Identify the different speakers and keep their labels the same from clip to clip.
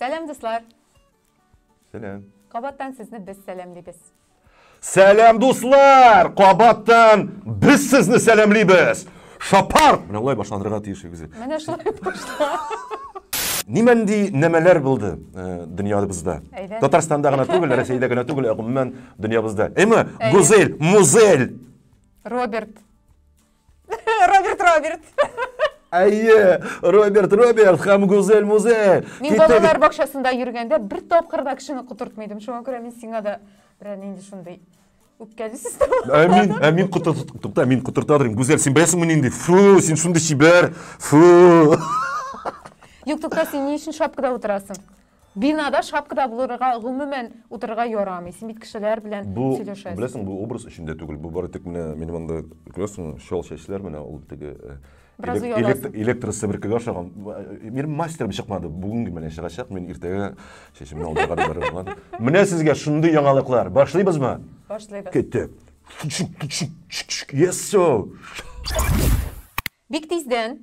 Speaker 1: Сәлам, дуслар!
Speaker 2: Сәлам! Кабаттан сезне
Speaker 1: без сәламлибез. Сәлам,
Speaker 2: дуслар! Кабаттан без сезне сәламлибез! Шапар! Менә улай башланырга тиеш үзе. Менә шулай
Speaker 1: башла.
Speaker 2: Нимәнди нәмәләр булды э, дөньябызда? Татарстанда гына түгел, Рәсәйдә генә түгел, ә гомумән дөньябызда. Әйме, Гүзел, Музель! Роберт.
Speaker 1: Роберт Роберт.
Speaker 2: Әйе, Роберт Роберт һәм Гүзәл Музель. Мин балалар
Speaker 1: бакчасында йөргәндә бер тапкыр да кешене котыртмыйдым. Шуңа күрә мин сиңа да берәр нинди шундый үпкәле система. Ә мин, ә
Speaker 2: мин котырт, тукта, мин котырта торыйм. Гүзәл, син беләсеңме нинди? Фу, син шундый чибәр. Фу.
Speaker 1: Юк, тукта, син ни өчен шапкада утырасың? Бинада шапкада булырга гомумән утырырга ярамый. Син бит кешеләр белән сөйләшәсең. Бу, беләсең, бу образ өчен дә
Speaker 2: түгел. Бу бары тик менә минем анда күрәсең, чал чәчләр менә ул теге э, Бераз ояласың. Электр себеркегә ошаган. Мир мастер чыкмады. Бүгенге менә чыгачак, мин иртәгә чәчемне алдырга барырмын. Менә сезгә шундый яңалыклар. Башлыйбызмы? Башлыйбыз. Кеттек.
Speaker 1: Чук,
Speaker 2: чук, чук, чук, чук. Yes, so.
Speaker 1: Бик тиздән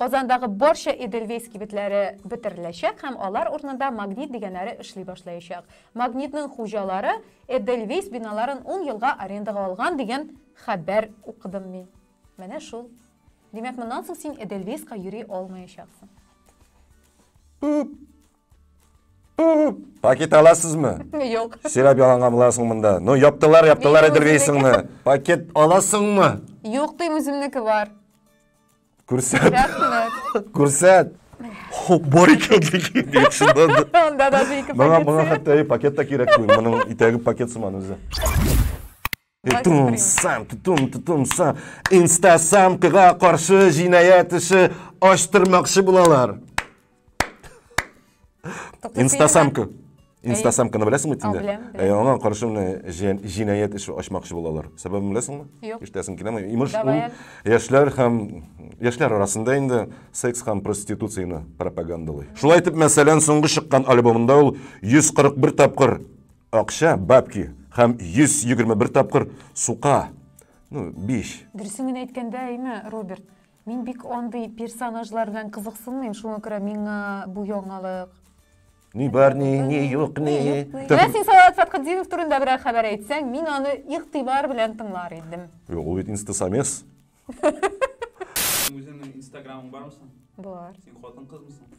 Speaker 1: Казандагы барча Эдельвейс кибетләре бетереләчәк һәм алар урынында Магнит дигәннәре эшли башлаячак. Магнитның хуҗалары Эдельвейс биналарын ун елга арендага алган дигән хәбәр укыдым мин. Менә шул. Димәк, моннан соң син Эдельвейска йөри алмаячаксың. Үп!
Speaker 2: Үп! Пакет аласызмы? Юк. Сөйләп
Speaker 1: яланга буласың
Speaker 2: монда. Ну, яптылар, яптылар Эдельвейсыңны. Пакет аласыңмы? Юк, дим, үземнеке
Speaker 1: бар.
Speaker 2: Күрсәт. Рәхмәт.
Speaker 1: Күрсәт.
Speaker 2: Хо, бар икән диген. Ник шунда да. Анда да ике Моңа
Speaker 1: пакет. моңа хәтта и пакет та
Speaker 2: кирәк түгел. Моның итәге пакет сыман үзе. Тутумсам, тутум, тутумсам. Инстасамкага каршы җинаять эше ачтырмакчы булалар. Тобто Инстасамка. Инстасамканы беләсеңме тиңдә? Беләм. Ә аңа каршы менә җинаять эше ачмакчы булалар. Сәбәбен беләсеңме? Юк. Иштәсең киләме? Имеш, ул яшьләр һәм яшьләр арасында инде секс һәм проституцияне пропагандалый. Шулай итеп, мәсәлән, соңгы чыккан альбомында ул 141 тапкыр акча, бабки һәм 121 тапкыр сука. Ну, биш. Дөресен генә әйткәндә,
Speaker 1: әйме, Роберт? Мин бик андый персонажлар белән кызыксынмыйм, шуңа күрә миңа бу яңалык. Ни
Speaker 2: бар, ни, ни юк, ни. Менә син Салават
Speaker 1: Фәтхетдинов турында берәр хәбәр әйтсәң, мин аны игътибар белән тыңлар идем. Юк, ул бит инстасамец.
Speaker 3: Үзеңнең инстаграмың бармы соң? Бар. Син
Speaker 1: хатын-кызмысың?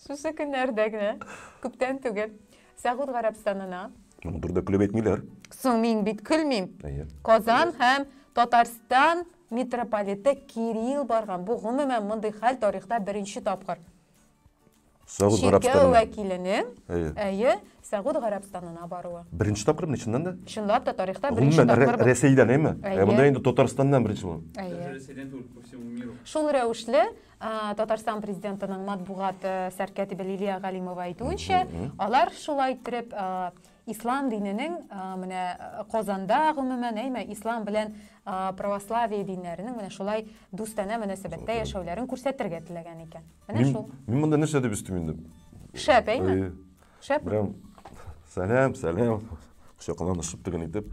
Speaker 1: Шушы көннәрдә генә, күптән түгел, Сәгуд Гарәбстанына. Моны турыда көлеп
Speaker 2: әйтмиләр. Соң мин бит
Speaker 1: көлмим. Казан һәм Татарстан митрополиты Кирилл барган. Бу гомумән мондый хәл тарихта беренче тапкыр.
Speaker 2: Сәгуд Гарәбстанына.
Speaker 1: вәкилене, әйе, Сәгуд Гарәбстанына баруы. Беренче тапкыр мин чыннан да?
Speaker 2: Чынлап та тарихта
Speaker 1: беренче тапкыр. Гомумән Рәсәйдән, әйме? Ә
Speaker 2: монда инде Татарстаннан беренче булган. Әйе.
Speaker 3: Шул рәвешле
Speaker 1: Татарстан президентының матбугат сәркәтибе Лилия Галимова әйтүенчә, алар шулай иттереп ислам диненең менә Казанда гомумән, әйме, ислам белән православие диннәренең менә шулай дустанә мөнәсәбәттә яшәүләрен күрсәтергә теләгән икән. Менә шул. Мин монда нәрсә дип өстим
Speaker 2: инде? Шәп, әйме?
Speaker 1: Шәп. Прям
Speaker 2: сәлам, сәлам. Кочакланышып тегенитеп.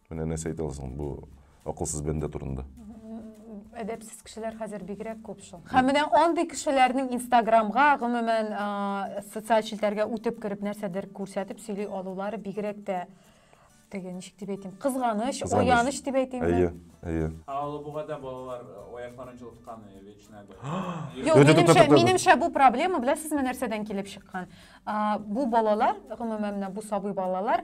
Speaker 2: Менә нәрсә әйтә аласың бу акылсыз бәндә турында?
Speaker 1: Әдәпсез кешеләр хәзер бигрәк күп шул. Һәм менә андый кешеләрнең Инстаграмга, гомумән, социаль челтәргә үтеп кереп нәрсәдер күрсәтеп сөйли алулары бигрәк тә теге ничек дип әйтим, кызганыч, аяныч дип әйтим. Әйе, әйе. Ә
Speaker 2: Алабугада
Speaker 3: балалар аякларын җылыткан вечная
Speaker 1: бәла. Минемчә бу проблема, беләсезме, нәрсәдән килеп чыккан? Бу балалар, гомумән, бу сабый балалар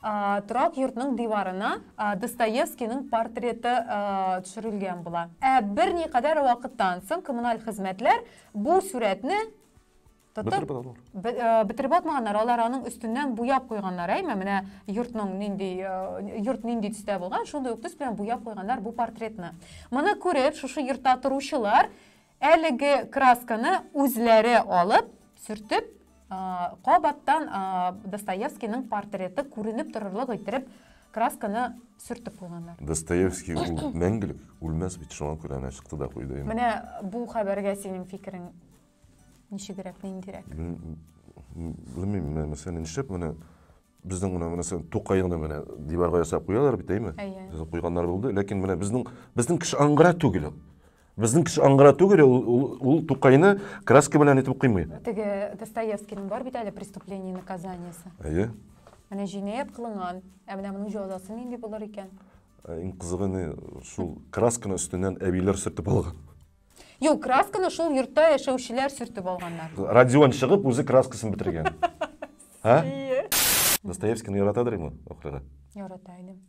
Speaker 1: Торак йортның диварына Достоевскийның портреты төшерелгән була. Ә берникадәр вакыттан соң коммуналь хезмәтләр бу сурәтне тотып бетереп атмаганнар алар аның өстеннән буяп куйганнар әйме менә йортның нинди йорт нинди төстә булган шундый ук төс белән буяп куйганнар бу портретны моны күреп шушы йортта торучылар Әлеге красканы үзләре алып, сөртеп, кабаттан Достоевскийның портреты күренеп торырлык иттереп красканы сөртеп куйганнар. Достоевский ул
Speaker 2: мәңгелек, үлмәс бит, шуңа күрә әнә чыкты да куйды инде. Менә бу
Speaker 1: хәбәргә синең фикерең ничегрәк, ниндирәк? Белмим, менә
Speaker 2: мәсәлән, нишләп менә Безнең гына менә сен Тукайны менә диварга ясап куялар бит, әйме? Әйе. Безнең куйганнар булды, ләкин менә безнең безнең кеше аңгыра түгел. Безнең кеше аңгыра түгел, ул, ул, ул Тукайны краска белән итеп куймый. Теге Достоевскийның
Speaker 1: бар бит әле преступление наказаниесе. Әйе.
Speaker 2: Менә җинаять
Speaker 1: кылынган, ә менә моның җәзасы нинди булыр икән? Ә иң кызыгы
Speaker 2: не шул красканы өстеннән әбиләр сөртеп алган. Юк,
Speaker 1: красканы шул йортта яшәүчеләр сөртеп алганнар. Родион чыгып, үзе
Speaker 2: краскасын бетергән. Ә? Ие. Достоевскийны яратадыр инде охрана. Ярата идем.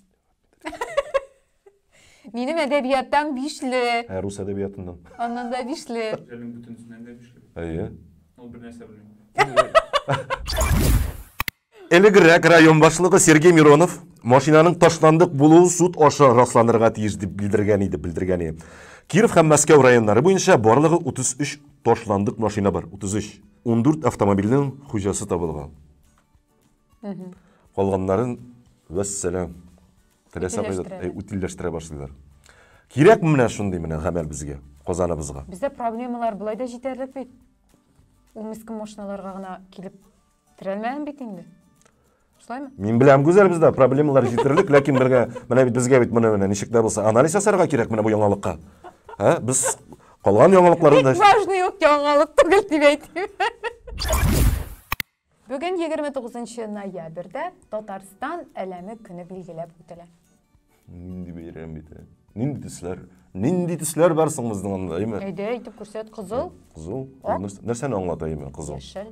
Speaker 1: Минем әдәбияттан бишле. Ә рус әдәбиятыннан.
Speaker 2: Аннан да бишле.
Speaker 1: Әлем бүтәнсеннән дә
Speaker 3: бишле. Әйе. Ул
Speaker 2: бер нәрсә белми. Элегрәк район башлыгы Сергей Миронов машинаның ташландык булуы суд аша расланырга тиеш дип белдергән иде, белдергән иде. Киров һәм Мәскәү районнары буенча барлыгы 33 ташландык машина бар, 33. 14 автомобильнең хуҗасы табылган. Калганнарын вәссәлам. Теләсә кайда утилләштерә башлыйлар. Кирәк менә шундый менә гамәл безгә, Казаныбызга. Бездә проблемалар
Speaker 1: былай да җитәрлек бит. Ул мескен машиналарга гына килеп Терәлмәгән бит инде. Шулаймы? Мин беләм, Гүзәл,
Speaker 2: бездә проблемалар җитәрлек, ләкин бергә, менә бит безгә бит менә менә ничек тә булса анализ ясарга кирәк менә бу яңалыкка. Ә? Без калган яңалыкларны да Бик важный ук яңалык
Speaker 1: түгел дип әйтим. Бүген 29 ноябрьдә Татарстан әләме көне билгеләп үтелә. Нинди
Speaker 2: бәйрәм бит. ә? Нинди төсләр? Нинди төсләр бар соң безнең анда, әйме? Әйдә, әйтеп күрсәт,
Speaker 1: кызыл, Кызыл. Ак. Нәрс-
Speaker 2: Нәрсәне аңлата әйме кызыл? яшел,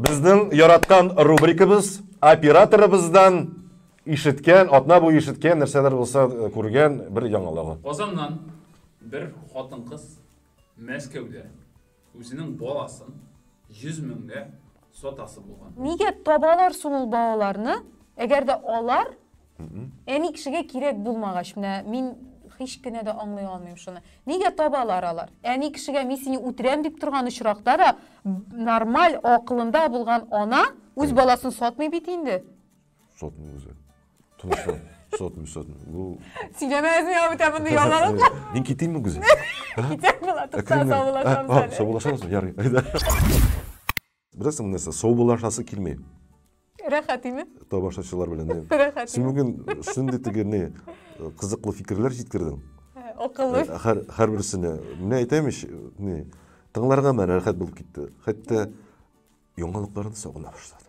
Speaker 1: Безнең
Speaker 2: яраткан рубрикабыз операторыбыздан ишеткән, атна буе ишеткән нәрсәләр булса э, күргән бер яңалыгы. Казаннан
Speaker 3: бер хатын-кыз Мәскәүдә үзенең баласын 100 меңгә сатасы булган. Нигә табалар
Speaker 1: соң ул балаларны, әгәр дә алар Әни кешегә кирәк булмагач, менә мин һич кенә дә аңлый алмыйм шуны. Нигә табалар алар? Әни кешегә мин сине үтерәм дип торган очракта да нормаль акылында булган ана үз баласын сатмый бит инде. Сатмый үзе.
Speaker 2: Тынычлан. Сотмый, сотмый. Бу Сөйләмә үзеңә
Speaker 1: ә бүтә мондый ялганлык. Э, мин китимме гүзәл?
Speaker 2: Китәм була,
Speaker 1: тукта саулашам. Саулашамсың, ярый.
Speaker 2: Беләсең нәрсә, саубуллашасы килми. Рәхәт
Speaker 1: име? Тамашачылар
Speaker 2: белән. Рәхәт. Син бүген
Speaker 1: шундый
Speaker 2: теге не кызыклы фикерләр җиткердең. Акыллы.
Speaker 1: Һәр һәр берсенә.
Speaker 2: Менә әйтәм ич, не тыңларга мән рәхәт булып китте. Хәтта яңалыкларны сагына башладым.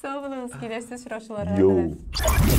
Speaker 2: Сау булыгыз,
Speaker 1: киләсе очрашуларга Йоу. кадәр.